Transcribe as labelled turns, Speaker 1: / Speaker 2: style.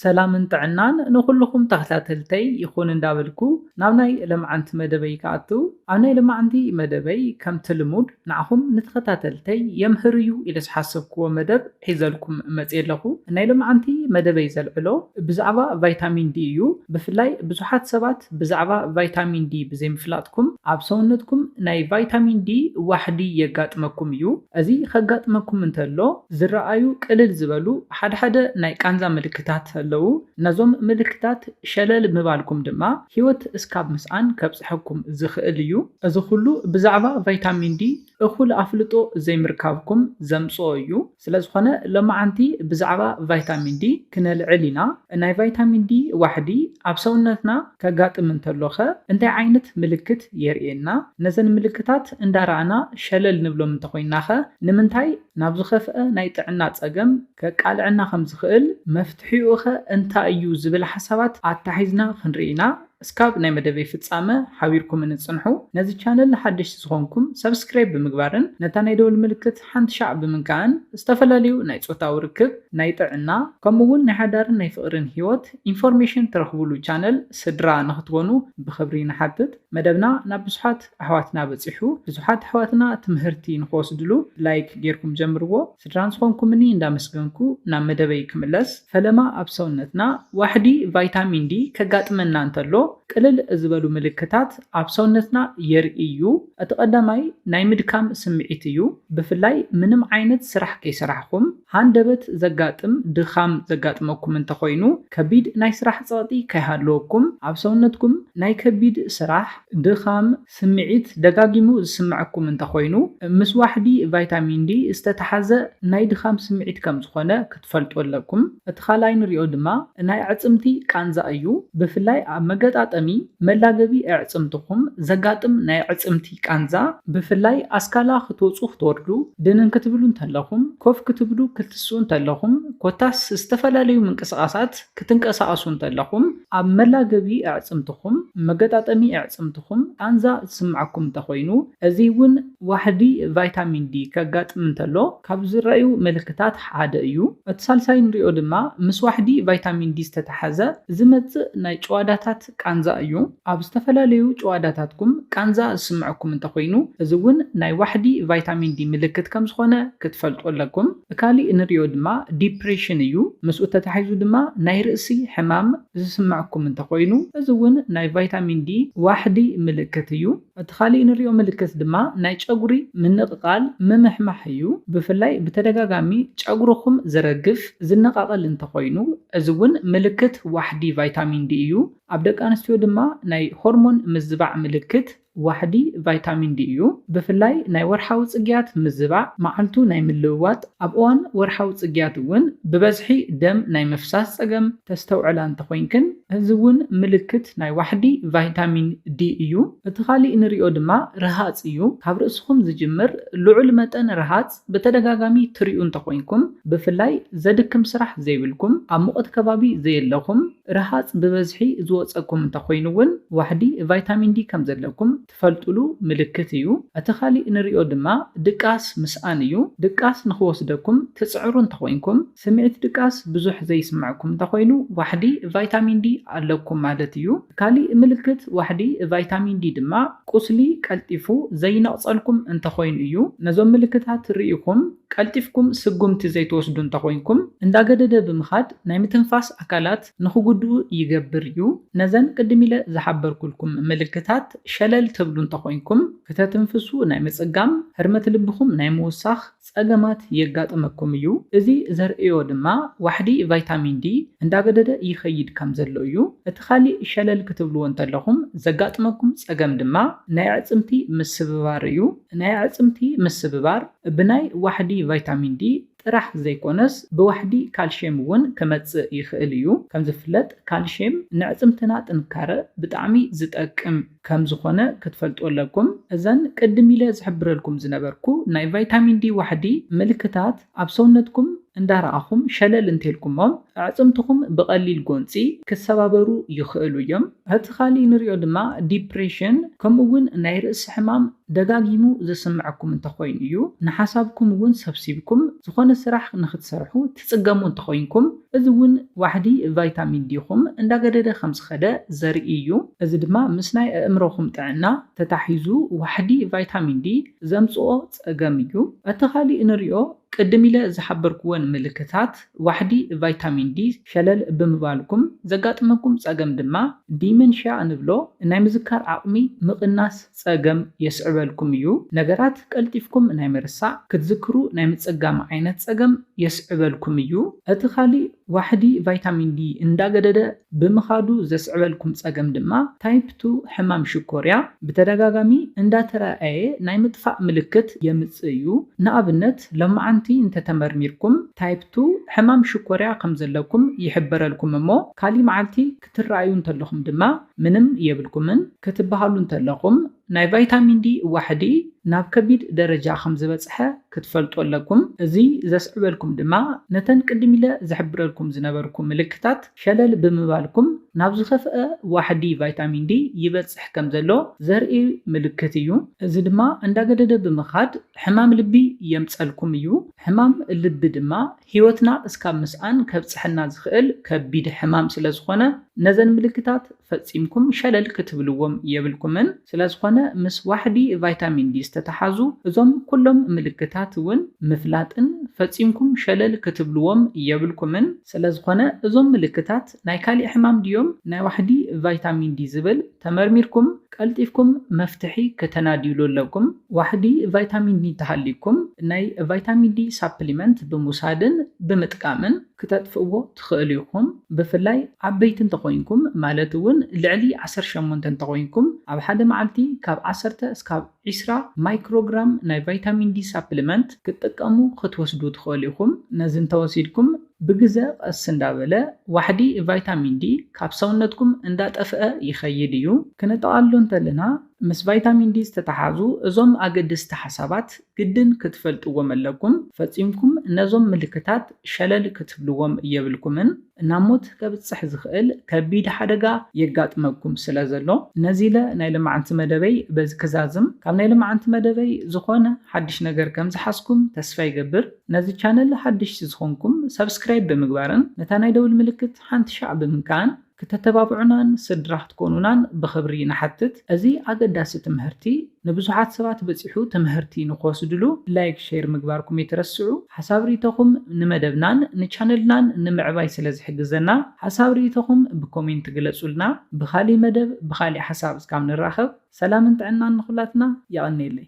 Speaker 1: ሰላምን ጥዕናን ንኹሉኹም ተኸታተልተይ ይኹን እንዳበልኩ ናብ ናይ ለማዓንቲ መደበይ ክኣቱ ኣብ ናይ ለማዓንቲ መደበይ ከምቲ ልሙድ ንዓኹም ንተኸታተልተይ የምህር እዩ ኢለ ዝሓሰብኩዎ መደብ ሒዘልኩም መጽየ ኣለኹ ናይ ለማዓንቲ መደበይ ዘልዕሎ ብዛዕባ ቫይታሚን ዲ እዩ ብፍላይ ብዙሓት ሰባት ብዛዕባ ቫይታሚን ዲ ብዘይምፍላጥኩም ኣብ ሰውነትኩም ናይ ቫይታሚን ዲ ዋሕዲ የጋጥመኩም እዩ እዚ ከጋጥመኩም እንተሎ ዝረኣዩ ቅልል ዝበሉ ሓደ ሓደ ናይ ቃንዛ ምልክታት ኣለዉ። ነዞም ምልክታት ሸለል ምባልኩም ድማ ህይወት እስካብ ምስኣን ከብጽሐኩም ዝኽእል እዩ። እዚ ኩሉ ብዛዕባ ቫይታሚን ዲ እኹል ኣፍልጦ ዘይምርካብኩም ዘምጽኦ እዩ። ስለዝኾነ ሎማዓንቲ ብዛዕባ ቫይታሚን ዲ ክነልዕል ኢና። ናይ ቫይታሚን ዲ ዋሕዲ ኣብ ሰውነትና። ከጋጥም እንተሎኸ እንታይ ዓይነት ምልክት የርእየና? ነዘን ምልክታት እንዳረኣና ሸለል ንብሎም እንተኾይንናኸ ንምንታይ ናብ ዝኸፍኣ ናይ ጥዕና ጸገም ከቃልዐና ከም ዝኽእል መፍትሒኡኸ እንታይ እዩ ዝብል ሓሳባት ኣታሒዝና ክንርኢ ኢና እስካብ ናይ መደበይ ፍጻመ ሓቢርኩምኒ ጽንሑ ነዚ ቻነል ሓደሽቲ ዝኾንኩም ሳብስክራይብ ብምግባርን ነታ ናይ ደወል ምልክት ሓንቲ ሻዕ ብምንካእን ዝተፈላለዩ ናይ ፆታዊ ርክብ፣ ናይ ጥዕና ከምኡ እውን ናይ ሓዳርን ናይ ፍቕሪን ህይወት ኢንፎርሜሽን ትረኽቡሉ ቻነል ስድራ ንኽትኮኑ ብኽብሪ ንሓትት። መደብና ናብ ብዙሓት ኣሕዋትና በፂሑ ብዙሓት ኣሕዋትና ትምህርቲ ንኽወስድሉ ላይክ ገይርኩም ጀምርዎ። ስድራ ንዝኾንኩምኒ እንዳመስገንኩ ናብ መደበይ ክምለስ። ፈለማ ኣብ ሰውነትና ዋሕዲ ቫይታሚን ዲ ከጋጥመና እንተሎ ቅልል ዝበሉ ምልክታት ኣብ ሰውነትና የርእይ እዩ። እቲ ቀዳማይ ናይ ምድካም ስምዒት እዩ፣ ብፍላይ ምንም ዓይነት ስራሕ ከይሰራሕኹም ሃንደበት ዘጋጥም ድኻም ዘጋጥመኩም እንተኾይኑ፣ ከቢድ ናይ ስራሕ ጸቕጢ ከይሃለወኩም ኣብ ሰውነትኩም ናይ ከቢድ ስራሕ፣ ድኻም፣ ስምዒት ደጋጊሙ ዝስመዐኩም እንተኾይኑ፣ ምስ ዋሕዲ ቫይታሚን ዲ ዝተተሓዘ ናይ ድኻም ስምዒት ከምዝኾነ ትፈልጡ ኣለኩም እቲ ካልኣይ ንሪኦ ድማ ናይ ኣዕፅምቲ ቃንዛ እዩ ብፍላይ ኣብ መገጣጠሚ መላገቢ ኣዕፅምትኩም ዘጋጥም ናይ ኣዕፅምቲ ቃንዛ ብፍላይ ኣስካላ ክትወፁ ክትወርዱ ድንን ክትብሉ እንተለኩም ኮፍ ክትብሉ ክትስኡ እንተለኩም ኮታስ ዝተፈላለዩ ምንቅስቃሳት ክትንቀሳቀሱ እንተለኩም ኣብ መላገቢ ኣዕፅምትኩም መገጣጠሚ ኣዕፅምትኩም ቃንዛ ዝስመዐኩም እንተኮይኑ እዚ እውን ዋሕዲ ቫይታሚን ዲ ከጋጥም እንተሎ ካብ ዝረኣዩ ምልክታት ሓደ እዩ። እቲ ሳልሳይ ንሪኦ ድማ ምስ ዋሕዲ ቫይታሚን ዲ ዝተተሓዘ ዝመፅእ ናይ ጭዋዳታት ቃንዛ እዩ። ኣብ ዝተፈላለዩ ጭዋዳታትኩም ቃንዛ ዝስመዐኩም እንተኾይኑ እዚ እውን ናይ ዋሕዲ ቫይታሚን ዲ ምልክት ከምዝኾነ ክትፈልጡ ኣለኩም። ካሊእ ንሪኦ ድማ ዲፕሬሽን እዩ። ምስኡ ተታሒዙ ድማ ናይ ርእሲ ሕማም ዝስመዐኩም እንተኾይኑ እዚ እውን ናይ ቫይታሚን ዲ ዋሕዲ ምልክት እዩ። እቲ ካሊእ ንሪኦ ምልክት ድማ ናይ ጨጉሪ ምንቕቓል፣ ምምሕማሕ፣ እዩ። ብፍላይ ብተደጋጋሚ ጨጉርኹም ዝረግፍ፣ ዝነቓቐል፣ እንተኾይኑ እዚ እውን ምልክት ዋሕዲ ቫይታሚን ዲ እዩ። ኣብ ደቂ ኣንስትዮ ድማ ናይ ሆርሞን ምዝባዕ ምልክት ዋሕዲ ቫይታሚን ዲ እዩ። ብፍላይ ናይ ወርሓዊ ፅግያት ምዝባዕ፣ መዓልቱ ናይ ምልውዋጥ፣ ኣብ እዋን ወርሓዊ ጽግያት እውን ብበዝሒ ደም ናይ ምፍሳስ ጸገም ተስተውዕላ እንተኾይንክን፣ እዚ እውን ምልክት ናይ ዋሕዲ ቫይታሚን ዲ እዩ። እቲ ካሊእ ንሪኦ ድማ ርሃጽ እዩ። ካብ ርእስኹም ዝጅምር ልዑል መጠን ርሃጽ ብተደጋጋሚ ትሪኡ እንተኾይንኩም፣ ብፍላይ ዘድክም ስራሕ ዘይብልኩም፣ ኣብ ሙቐት ከባቢ ዘየለኹም፣ ርሃጽ ብበዝሒ ዝወጸኩም እንተኾይኑ እውን ዋሕዲ ቫይታሚን ዲ ከምዘለኩም ትፈልጥሉ ምልክት እዩ። እቲ ካሊእ ንሪኦ ድማ ድቃስ ምስኣን እዩ። ድቃስ ንክወስደኩም ትጽዕሩ እንተኾይንኩም፣ ስምዒት ድቃስ ብዙሕ ዘይስመዐኩም እንተኾይኑ ዋሕዲ ቫይታሚን ዲ ኣለኩም ማለት እዩ። ካሊእ ምልክት ዋሕዲ ቫይታሚን ዲ ድማ ቁስሊ ቀልጢፉ ዘይነቕጸልኩም እንተኾይኑ እዩ። ነዞም ምልክታት ሪኢኹም ቀልጢፍኩም ስጉምቲ ዘይትወስዱ እንተኾይንኩም፣ እንዳገደደ ብምኻድ ናይ ምትንፋስ ኣካላት፣ ንኽጉድኡ ይገብር እዩ። ነዘን ቅድም ኢለ ዝሓበርኩልኩም ምልክታት ሸለል ትብሉ እንተኾይንኩም፣ ክተትንፍሱ ናይ ምጽጋም፣ ህርመት ልብኹም ናይ ምውሳኽ ጸገማት የጋጥመኩም እዩ። እዚ ዘርእዮ ድማ ዋሕዲ ቫይታሚን ዲ እንዳገደደ ይኸይድ ከም ዘሎ እዩ። እቲ ካሊእ ሸለል ክትብልዎ እንተለኹም ዘጋጥመኩም ጸገም ድማ ናይ ኣዕጽምቲ ምስብባር እዩ። ናይ ኣዕጽምቲ ምስብባር ብናይ ዋሕዲ ቫይታሚን ዲ ጥራሕ ዘይኮነስ ብዋሕዲ ካልሽየም እውን ክመፅእ ይኽእል እዩ። ከምዝፍለጥ ካልሽየም ንዕፅምትና ጥንካረ ብጣዕሚ ዝጠቅም ከምዝኾነ ክትፈልጡ ኣለኩም። እዘን ቅድም ኢለ ዝሕብረልኩም ዝነበርኩ ናይ ቫይታሚን ዲ ዋሕዲ ምልክታት ኣብ ሰውነትኩም እንዳረኣኹም ሸለል እንተልኩሞም ኣዕፅምትኹም ብቐሊል ጎንፂ ክሰባበሩ ይኽእሉ እዮም። እቲ ኻሊእ ንሪኦ ድማ ዲፕሬሽን ከምኡ እውን ናይ ርእሲ ሕማም ደጋጊሙ ዘስመዐኩም እንተኾይኑ እዩ። ንሓሳብኩም እውን ሰብሲብኩም ዝኾነ ስራሕ ንኽትሰርሑ ትፅገሙ እንተኾይንኩም እዚ እውን ዋሕዲ ቫይታሚን ዲኹም እንዳገደደ ከምዝኸደ ዘርኢ እዩ። እዚ ድማ ምስ ናይ ኣእምሮኹም ጥዕና ተታሒዙ ዋሕዲ ቫይታሚን ዲ ዘምፅኦ ፀገም እዩ። እቲ ኻሊእ ንሪኦ ቅድም ኢለ ዝሓበርኩወን ምልክታት። ዋሕዲ ቫይታሚን ዲ ሸለል ብምባልኩም ዘጋጥመኩም ጸገም ድማ ዲመንሽያ እንብሎ ናይ ምዝካር ዓቕሚ ምቕናስ ጸገም የስዕበልኩም እዩ። ነገራት ቀልጢፍኩም ናይ ምርሳዕ፣ ክትዝክሩ ናይ ምጽጋም ዓይነት ጸገም የስዕበልኩም እዩ። እቲ ካሊእ ዋሕዲ ቫይታሚን ዲ እንዳገደደ ብምኻዱ ዘስዕበልኩም ፀገም ድማ ታይፕ ቱ ሕማም ሽኮርያ ብተደጋጋሚ እንዳተረኣየ ናይ ምጥፋእ ምልክት የምፅእ እዩ። ንኣብነት ሎማዓንቲ እንተተመርሚርኩም ታይፕ ቱ ሕማም ሽኮርያ ከምዘለኩም ይሕበረልኩም እሞ ካሊእ መዓልቲ ክትረኣዩ እንተለኹም ድማ ምንም የብልኩምን ክትበሃሉ እንተለኹም ናይ ቫይታሚን ዲ ዋሕዲ ናብ ከቢድ ደረጃ ከም ዝበጽሐ ክትፈልጡ ኣለኩም፣ እዚ ዘስዕበልኩም ድማ ነተን ቅድም ኢለ ዝሕብረልኩም ዝነበርኩ ምልክታት ሸለል ብምባልኩም ናብ ዝኸፍኣ ዋሕዲ ቫይታሚን ዲ ይበጽሕ ከም ዘሎ ዘርኢ ምልክት እዩ። እዚ ድማ እንዳገደደ ብምኻድ ሕማም ልቢ የምጸልኩም እዩ፣ ሕማም ልቢ ድማ ህይወትና እስካብ ምስኣን ከብጽሐና ዝኽእል ከቢድ ሕማም ስለዝኾነ ነዘን ምልክታት ፈጺምኩም ሸለል ክትብልዎም የብልኩምን። ስለዝኾነ ምስ ዋሕዲ ቫይታሚን ዲ ዝተተሓዙ እዞም ኩሎም ምልክታት እውን ምፍላጥን ፈጺምኩም ሸለል ክትብልዎም የብልኩምን። ስለዝኾነ እዞም ምልክታት ናይ ካሊእ ሕማም ድዮም ናይ ዋሕዲ ቫይታሚን ዲ ዝብል ተመርሚርኩም ቀልጢፍኩም መፍትሒ ከተናድይሉ ኣለኩም ዋሕዲ ቫይታሚን ዲ እንተሃልይኩም ናይ ቫይታሚን ዲ ሳፕሊመንት ብምውሳድን ብምጥቃምን ክተጥፍእዎ ትክእሉ ኢኩም ብፍላይ ዓበይቲ እንተኮይንኩም ማለት እውን ልዕሊ ዓሰርተ ሸሞንተ እንተኮይንኩም ኣብ ሓደ መዓልቲ ካብ ዓሰርተ እስካብ ዒስራ ማይክሮግራም ናይ ቫይታሚን ዲ ሳፕሊመንት ክትጥቀሙ ክትወስዱ ትኽእሉ ኢኹም። ነዚ እንተወሲድኩም ብግዘ ቐስ እንዳበለ ዋሕዲ ቫይታሚን ዲ ካብ ሰውነትኩም እንዳጠፍኣ ይኸይድ እዩ። ክነጠቓልሎ እንተለና ምስ ቫይታሚን ዲ ዝተተሓዙ እዞም ኣገደስቲ ሓሳባት ግድን ክትፈልጥዎም ኣለኩም። ፈጺምኩም ነዞም ምልክታት ሸለል ክትብልዎም የብልኩምን። ናብ ሞት ከብጽሕ ዝኽእል ከቢድ ሓደጋ የጋጥመኩም ስለ ዘሎ፣ ነዚ ኢለ ናይ ልማዓንቲ መደበይ በዚ ክዛዝም። ካብ ናይ ልማዓንቲ መደበይ ዝኾነ ሓድሽ ነገር ከም ዝሓዝኩም ተስፋ ይገብር። ነዚ ቻነል ሓደሽቲ ዝኾንኩም ሳብስክራይብ ብምግባርን ነታ ናይ ደውል ምልክት ሓንቲ ሻዕ ብምንካእን ክተተባብዑናን ስድራ ክትኮኑናን ብኽብሪ ንሓትት። እዚ ኣገዳሲ ትምህርቲ። ንብዙሓት ሰባት በጺሑ ትምሀርቲ ንክወስድሉ ላይክ ሼር ምግባርኩም የትረስዑ ሓሳብ ሪኢቶኹም ንመደብናን ንቻነልናን ንምዕባይ ስለ ዝሕግዘና ሓሳብ ሪኢቶኹም ብኮሜንት ግለጹልና ብኻሊእ መደብ ብኻሊእ ሓሳብ እስካብ ንራኸብ ሰላምን ጥዕናን ንኹላትና የቐኔለይ።